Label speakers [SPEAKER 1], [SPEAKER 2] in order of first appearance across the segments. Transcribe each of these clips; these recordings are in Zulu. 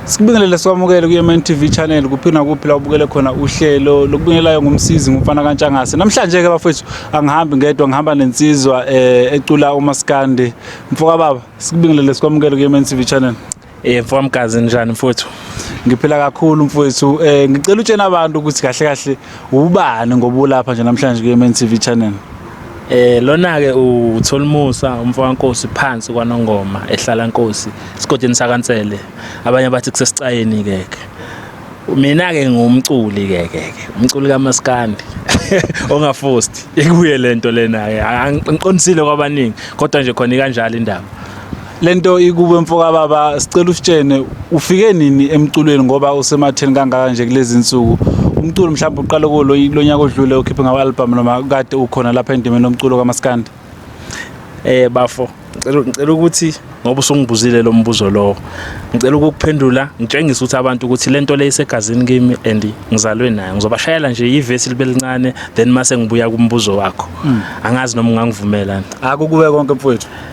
[SPEAKER 1] Sikubingelele sikwamukele ku-MN TV channel kuphi nakuphi la ubukele khona uhlelo lokubingelayo ngumsizi ngumfana kaNtshangase. Namhlanje ke bafethu angihambi ngedwa ngihamba nensizwa eh ecula uMaskandi. Mfoka baba sikubingelele sikwamukele ku-MN TV channel. Eh mfowamgazi
[SPEAKER 2] njani mfowethu? Ngiphila kakhulu
[SPEAKER 1] mfowethu. Eh ngicela utshena abantu ukuthi kahle kahle Ubani ngoba ulapha nje namhlanje kwi-MN TV channel? Eh lona
[SPEAKER 2] ke uTholimusa umfana Nkosi phansi kwaNongoma ehlala Nkosi sigodini sakaNsele abanye bathi kusesicayeni ke ke mina ke ngumculi ke ke umculi kamaskandi ongafosti ikuye lento lena ke angiqondisile kwabaningi kodwa nje khona ikanjalo indaba lento
[SPEAKER 1] ikube mfoka baba sicela usitshene ufike nini emculweni ngoba usematheni kangaka nje kulezi nsuku umculo mhlawumbe uqale kuwo lo nyaka odlule ukhiphe ngama-albhamu noma kade ukhona lapha endimeni lomculo kamaskandi eh
[SPEAKER 2] bafo ngicela ukuthi ngoba usungibuzile lo mbuzo lowo ngicela ukukuphendula ngitshengise ukuthi abantu ukuthi le nto le isegazini kimi and ngizalwe nayo ngizobashayela nje ivesi libe lincane then mase ngibuya kumbuzo wakho hmm. angazi noma ungangivumela akukube konke
[SPEAKER 1] mfowethu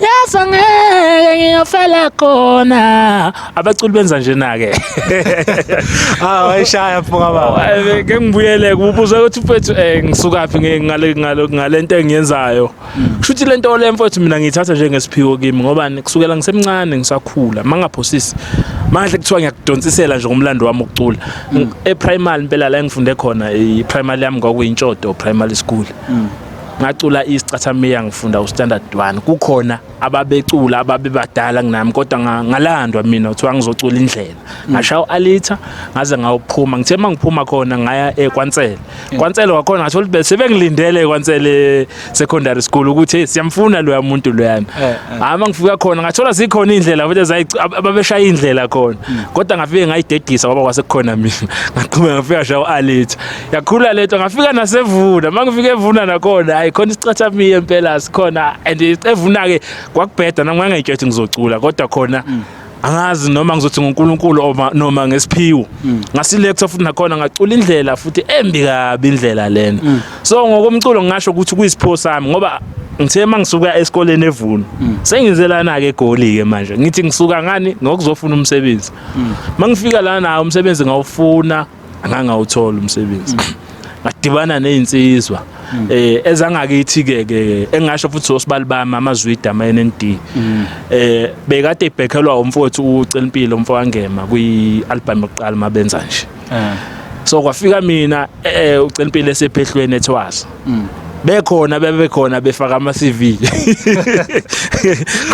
[SPEAKER 2] yazi angeke ngiyofela khona abaculi benza njena-ke hawu ayishaya
[SPEAKER 1] mfoka baba ke ngibuyele
[SPEAKER 2] kubuza ukuthi mfethu um ngisukaphi ngale nto engiyenzayo kusho ukuthi le nto le mfethu mina ngiyithatha njengesiphiwo kimi ngoba kusukela ngisemncane ngisakhula ma ngaphosisi mangahle kuthiwa ngiyakudonsisela nje ngomlando wami ukucula mm. eprimary impela la engifunde khona iprimary yami kwakuyintshodo primary school mm. ngacula isicathamia ngifunda ustandard 1 kukhona ababecula ababebadala kunami kodwa ngalandwa mina kuthiwa ngizocula indlela mm. ngashaya u-alita ngaze ngawuphuma ngithe uma ngiphuma khona ngaya ekwansele eh, kwansele wakhona ngathola ukuthi sebengilindele ekwansele secondary school ukuthi siyamfuna loya muntu loyana eh, eh. hhayi uma ngifika khona ngathola zikhona iy'ndlela futhi ababeshaya iy'ndlela khona mm. kodwa ngafike ngayidedisa kwaba kwasekukhona mina ngaqhubeka ngafika shaya u-alita yakhula lento ngafika nasevuna mangifika evuna nakhona hayi khona isicatha miye impela sikhona and evuna ke kwakubheda nami ngangayitshethi ngizocula kodwa khona mm. angazi noma ngizothi ngoNkulunkulu noma ngesiphiwo mm. ngasilecture futhi nakhona ngacula indlela futhi embi kabi indlela lena mm. so ngokomculo ngingasho ukuthi kuyisipho sami ngoba ngithe mangisuka esikoleni evuno mm. sengizelana ke egoli ke manje ngithi ngisuka ngani ngokuzofuna umsebenzi mangifika lana umsebenzi ngawufuna angangawuthola umsebenzi ngadibana nezinsizwa mm. eh ezangakithi ke ke engasho futhi osibali bami amazwida ama NND mm. eh bekade ibhekhelwa umfowethu ucela impilo umfowangema kwi album yokuqala mabenza nje eh. so kwafika mina eh ucela impilo esephehlweni ethwaza mm. bekhona bebekhona befaka ama CV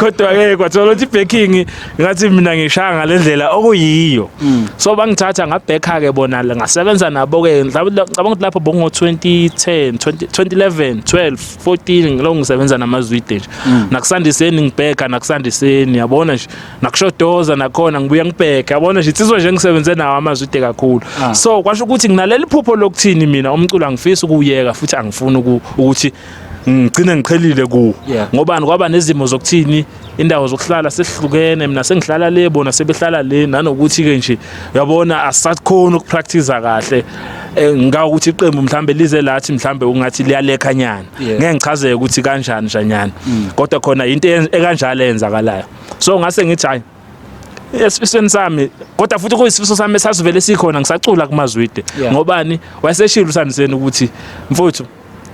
[SPEAKER 2] kodwa ke kwathola ukuthi backing ngathi mina ngishaya ngalendlela okuyiyo mm. so bangithatha ngabhekha ke bona ngasebenza nabo ke ngicabanga ukuthi lapho bongo 2010 2011 12 14 ngilo ngisebenza namazwide nje mm. nakusandiseni ngibheka nakusandiseni yabona nje nakushodoza nakhona ngibuye ngibheke yabona nje insizwa nje ngisebenze nawo amazwi ide kakhulu ah. so kwasho ukuthi nginaleli phupho lokuthini mina umculo angifisi ukuyeka futhi angifuni ukuthi ngigcine ngiqhelile kuwo ngobani kwaba nezimo zokuthini indawo zokuhlala sehlukene mina sengihlala le bona sebehlala le nanokuthi ke nje uyabona asakhona ukupractice kahle eh, ngika ukuthi iqembu mhlambe lize lathi mhlambe ungathi liyalekhanyana ngeke ngichazeke ukuthi kanjani njanyana mm. kodwa khona into ekanjalo eyenzakalayo so ngase ngithi hayi esifisweni sami kodwa futhi kuyisifiso sami esasivele sikhona ngisacula kumazwide ngobani wayeseshilo usandiseni ukuthi mfuthu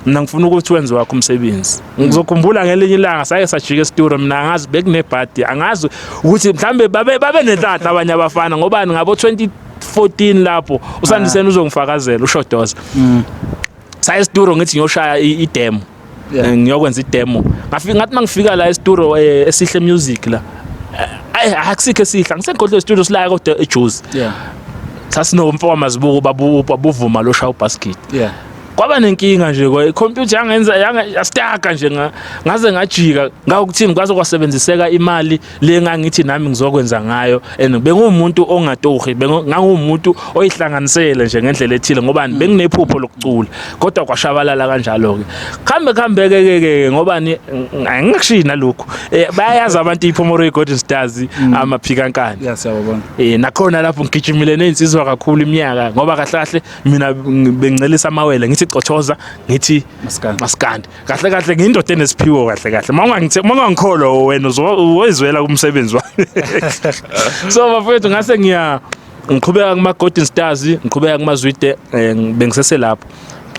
[SPEAKER 2] mina ngifuna ukuthi wenze wakho umsebenzi ngizokhumbula ngelinye ilanga saye sajika esituro mina angazi bekunebhadi angazi ukuthi mhlambe babe babe nenhlanhla abanye abafana ngobani ngabo 20 14 lapho usandiseni ah. uzongifakazela ushodoza mm. saye esituro ngithi ngiyoshaya idemo yeah. Eh, ngiyokwenza idemo ngafika ngathi mangifika la estudio eh, esihle music la ayi eh, akusikho esihle angisegodle estudio silaya kodwa ejuice yeah sasinomfo wamazibuko babu babuvuma lo shawu basket yeah kwaba nenkinga nje kwa computer yangenza yastaka nje ngaze ngajika ngawukuthini kwaze kwasebenziseka imali le ngangithi nami ngizokwenza ngayo and bengumuntu ongatohi bengangumuntu oyihlanganisele nje ngendlela ethile ngoba mm. benginephupho lokucula kodwa kwashabalala kanjalo ke khambe khambe ke ke ngoba angikushiyi nalokho eh, bayazi abantu iphomoro iGolden Stars mm. amaphikankani yasiyabona eh
[SPEAKER 1] nakhona lapho
[SPEAKER 2] ngigijimile nezinsizwa kakhulu iminyaka ngoba kahle kahle mina bengicelisa amawele ngithi cothoza ngithi maskandi kahle kahle ngiyindoda enesiphiwo kahle kahle uma ungangithe uma ungangikholwa wena uzoyizwela kumsebenzi wami so bafethu ngase ngiya ngiqhubeka kuma Golden Stars ngiqhubeka kuma Zwide eh, bengisese lapho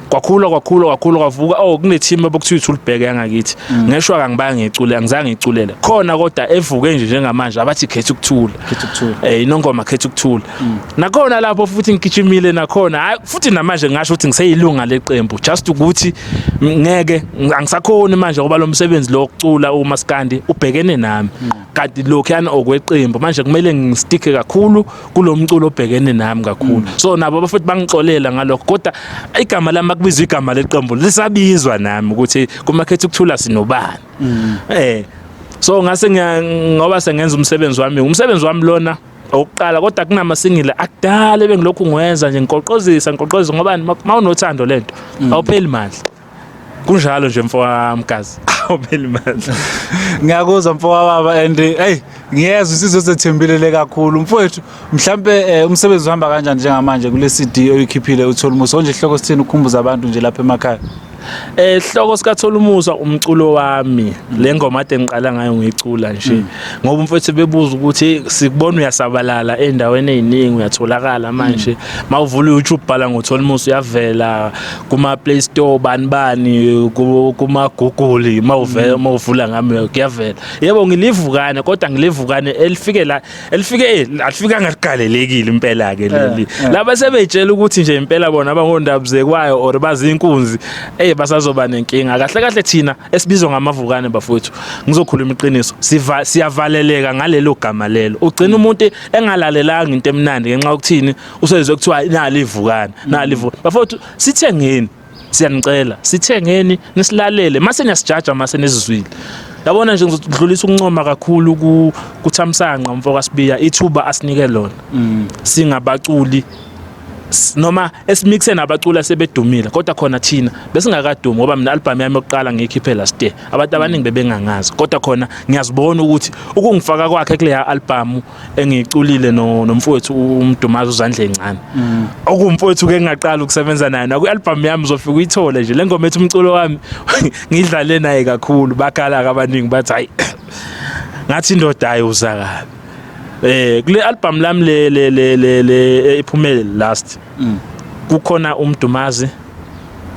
[SPEAKER 2] kwakhula kwakhula kwakhula kwavuka oh kune team abokuthiwa ithulibheke yangakithi mm. ngesho akangibaya ngicule angizange ngiculele khona kodwa evuke nje njengamanje abathi khetha ukuthula khetha ukuthula eh inongoma khetha ukuthula nakhona lapho futhi ngigijimile nakhona hayi futhi namanje ngasho ukuthi ngiseyilunga leqembu just ukuthi ngeke angisakhoni manje ngoba lo msebenzi lo kucula umaskandi ubhekene nami kanti lokhuyana okweqembu manje kumele ngistike kakhulu kulo mculo obhekene nami kakhulu so nabo abafuthi bangixolela ngalokho kodwa igama lami akubizwa igama leqembu lisabizwa nami ukuthi kumakhethi ukuthula sinobani eh so ngase ngoba sengenza umsebenzi wami umsebenzi wami lona okokuqala kodwa kunama single akudala ebengilokhu ngiwenza nje ngiqoqozisa ngiqoqozisa ngoba uma unothando lento mm. awupheli mandla kunjalo nje mfowami gazi awupheli mandla ngiyakuzwa
[SPEAKER 1] mfowa baba and hey ngiyezwa isizwe sethembelele kakhulu mfowethu mhlambe eh, umsebenzi uhamba kanjani njengamanje kule CD oyikhiphile utholimuso onje ihloko sithini ukukhumbuza abantu nje lapha emakhaya Eh hloko
[SPEAKER 2] sikathola umuzwa umculo wami le ngoma ade ngiqala ngayo ngicula nje mm. ngoba umfethu bebuza ukuthi sikubona uyasabalala endaweni eziningi uyatholakala mm. manje mawuvula YouTube bhala ngothola umusa uyavela kuma Play Store bani bani kuma Google mawuvela mm. mawuvula ngami kuyavela yebo ngilivukane kodwa ngilivukane elifike la elifike eh, alifikanga liqalelekile impela ke leli eh, eh. laba sebetshela ukuthi nje impela bona abangondabuzekwayo or bazinkunzi eh basazoba nenkinga kahle kahle thina esibizwa ngamavukane bafowethu ngizokhuluma iqiniso siva siyavaleleka ngalelo gama lelo ugcina umuntu engalalelanga into emnandi ngenxa yokuthini usezwe kuthiwa nali ivukane nali ivukane bafowethu sithengeni siyanicela sithengeni nisilalele mase niyasijaja mase nizizwile yabona nje ngizodlulisa ukuncoma kakhulu ku kuthamsanqa umfo kaSibiya ithuba asinike lona mm. singabaculi noma esimixen abaculi asebedumile kodwa khona thina besingakadumi ngoba mina album yami yokuqala ngiyikhiphe last year abantu abaningi bebengangazi kodwa khona ngiyazibona ukuthi ukungifaka kwakhe kule album engiyiculile no nomfowethu uMdumazi uzandle encane mm. okumfowethu ke ngingaqala ukusebenza naye naku album yami uzofika uyithole nje lengoma ethi umculo wami ngidlale naye kakhulu bakhala abaningi bathi hayi ngathi indoda ayi uzakala eh kule album lami le le le le eh, iphumele last mm. kukhona uMdumazi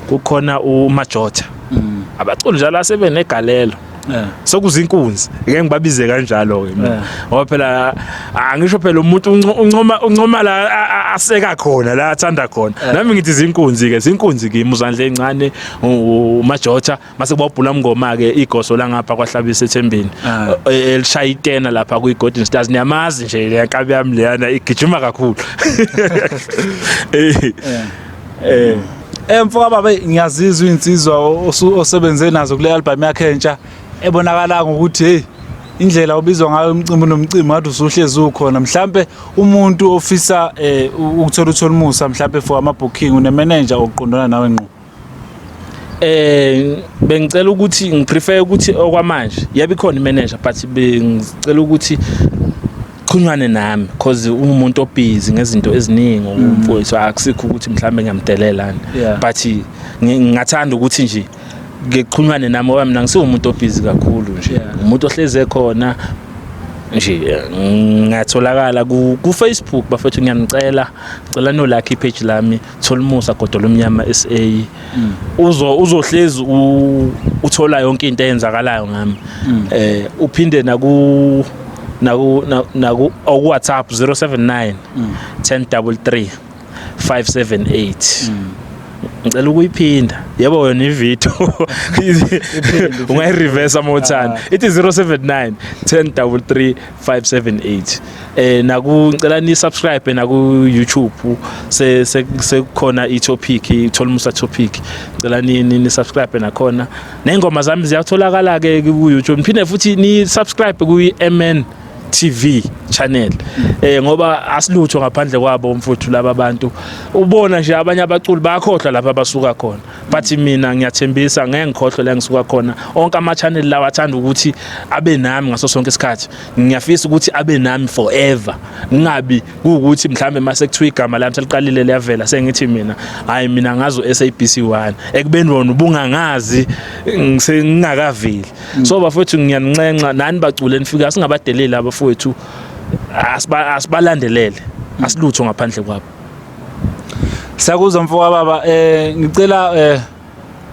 [SPEAKER 2] kukhona uMajotha mm. abaculi njalo asebenegalelo eh. sokuzinkunzi ngeke ngibabize kanjalo ke mina eh. ngoba phela angisho phela umuntu uncoma uncoma la aseka khona la athanda khona eh. nami ngithi zinkunzi ke zinkunzi kimi uzandle encane umajotha mase kuba ubhula mngoma ke igoso langapha kwahlabisa ethembeni ah. e, e, elishaya itena lapha kwi Golden Stars niyamazi nje le nkabi yami leyana igijima kakhulu eh
[SPEAKER 1] eh emfo eh, baba ngiyazizwa insizwa osebenze nazo kule album yakhe entsha ebonakala ngokuthi hey indlela obizwa ngayo umcimbi nomcimbi ngathi usuhlezi ukhona mhlambe umuntu ofisa eh, ukuthola utholimusa mhlambe for ama booking une manager oqondana nawe ngqo eh
[SPEAKER 2] bengicela ukuthi ngiprefer ukuthi okwamanje yabe khona imanager but bengicela ukuthi qhunywane nami because umuntu obhizi ngezinto eziningi mm. umfowethu akusikho ukuthi mhlambe ngiyamdelelana but ngingathanda ukuthi nje ngiqhunywane nami ngoba mina ngisiwumuntu obhizi kakhulu nje umuntu ohleze khona nje ngatholakala ku Facebook bafethu ngiyanicela cela no like page lami Tholumusa Godola Omnyama SA mm. uzo uzohlezi uthola yonke into eyenzakalayo ngami mm. eh uphinde naku naku naku oku WhatsApp 079 1033 578 ngicela ukuyiphinda yebo wena ivideo ungayireverse amothana ah. ithi 079 1033 578 eh naku ngicela ni subscribe naku YouTube se sekukhona i topic ithola musa topic ngicela ni ni subscribe nakhona nezingoma zami ziyatholakala ke ku YouTube phinde futhi ni subscribe ku MN TV channel eh ngoba asilutho ngaphandle kwabo mfuthu laba bantu ubona nje abanye abaculi bakhohlwa lapha basuka khona but mina ngiyathembisa ngeke ngikhohlwe la ngisuka khona onke ama channel lawa athanda ukuthi abe nami ngaso sonke isikhathi ngiyafisa ukuthi abe nami forever ngingabi kuukuthi mhlambe mase kuthiwa igama lami seliqalile liyavela sengithi mina hayi mina ngazo SABC 1 ekubeni wona ubungangazi ngingakaveli mm. so bafowethu ngiyaninxenxa nani bacule nifika singabadeleli abafowethu asibalandelele mm. asilutho ngaphandle kwabo
[SPEAKER 1] Sakuzwa mfoka baba eh ngicela eh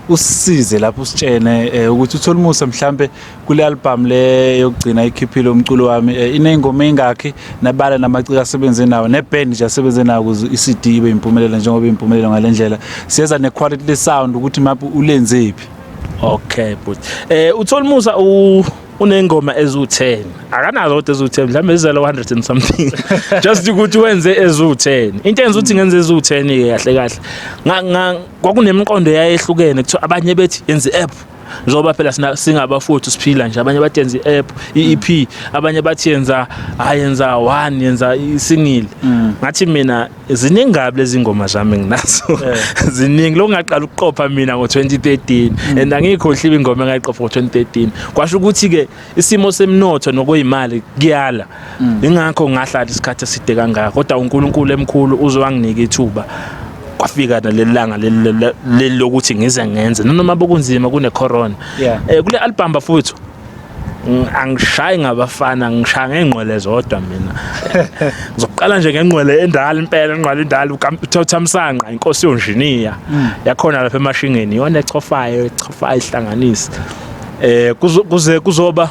[SPEAKER 1] usisize lapho usitshene eh, ukuthi uthole umusa mhlambe kule album le yokugcina ikhiphile umculo wami eh, inengoma engakhi nabala namaciko asebenze nawo neband nje asebenze nawo kuze iCD ibe impumelelo njengoba impumelelo ngalendlela siyeza nequality le sound ukuthi maphi ulenzephi okay
[SPEAKER 2] but eh uthole umusa u uney'ngoma eziwu-10 akanazo kodwa eziwu-10 mhlawumbe ezizele 100 and something just ukuthi wenze eziwu-10 into enza ukuthi ngenze eziwu-10-ke kahle kahle kwakunemiqondo yayehlukene kuthiwa abanye bethi yenze i-app njengoba phela singabafowethu siphila nje abanye bathi yenza i-app i-ep abanye bathi yenza hayi yenza one yenza isingile mm. ngathi mina ziningi kabi lezi ngoma zami nginazo eh. ziningi lo ngaqala ukuqopha mina ngo-2013 mm. and angiyikhohliwe ingoma engayiqopha ngo-2013 kwasho ukuthi-ke isimo semnotho nokuyimali kuyala mm. ingakho ngahlala isikhathi eside kangaka kodwa unkulunkulu emkhulu uze wanginika ithuba kwafika naleli langa leli lokuthi ngize ngenze noma bokunzima kune-corona um kule album bafowethu angishayi ngabafana ngishaya ngengqwele zodwa mina ngizoqala nje ngengqwele endala impela ingqwele endala ukamthamsanqa inkosi yonjiniya mm. yakhona lapha emashingeni iyona echofayo echofayo ihlanganisa eh kuze kuzoba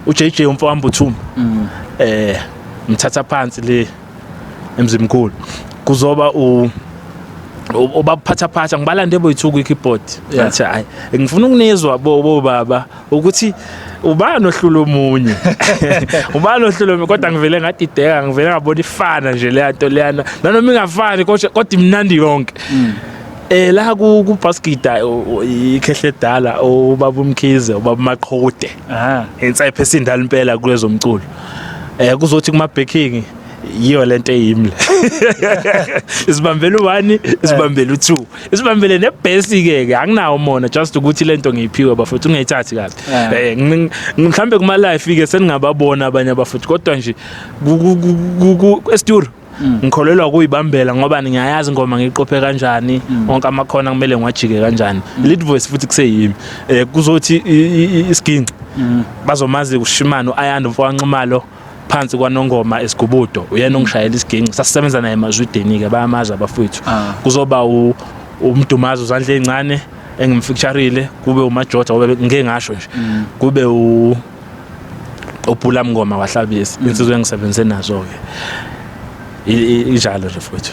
[SPEAKER 2] uJJ umfowami Buthuma mm. eh mthatha phansi le emzimkhulu kuzoba u obaphatha phatha ngibalande boyithuku ikeyboard ngathi hayi ngifuna ukunizwa bo baba ukuthi ubani ohlula omunye ubani ohlula omunye kodwa ngivele ngadideka ngivele ngabona ifana nje leya nto leyana nanoma ingafani kodwa kodwa imnandi yonke mm. eh la ku ku baskida ikhehle dala ubaba umkhize ubaba maqhude ah inside phese indala impela kulezomculo eh kuzothi kuma baking yiyo lento eyimle isibambela u1 isibambela u2 isibambele nebhesi ke ke anginawo mona just ukuthi lento ngiyiphiwe bafuthu ungayithathi kahle eh mhlambe kuma life ke seningababona abanye abafuthu kodwa nje ku esturu Mm. ngikholelwa kuyibambela ngoba ngiyayazi ngoma ngiqophe kanjani mm. wonke amakhona kumele ngiwajike kanjani mm. lead voice futhi kuseyimi eh kuzothi isiginci bazomazi ushimano ayanda mfowanxumalo phansi kwanongoma esigubudo uyena ongishayela isiginci sasisebenza naye emazwideni-ke bayamazi abafowethu ah. kuzoba umdumazi uzandla ey'ncane engimfeaturile kube umajoda ngoba ngike ngasho nje mm. kube u obhula mngoma wahlabisa mm. insizwe engisebenze nazo ke injalo nje futhi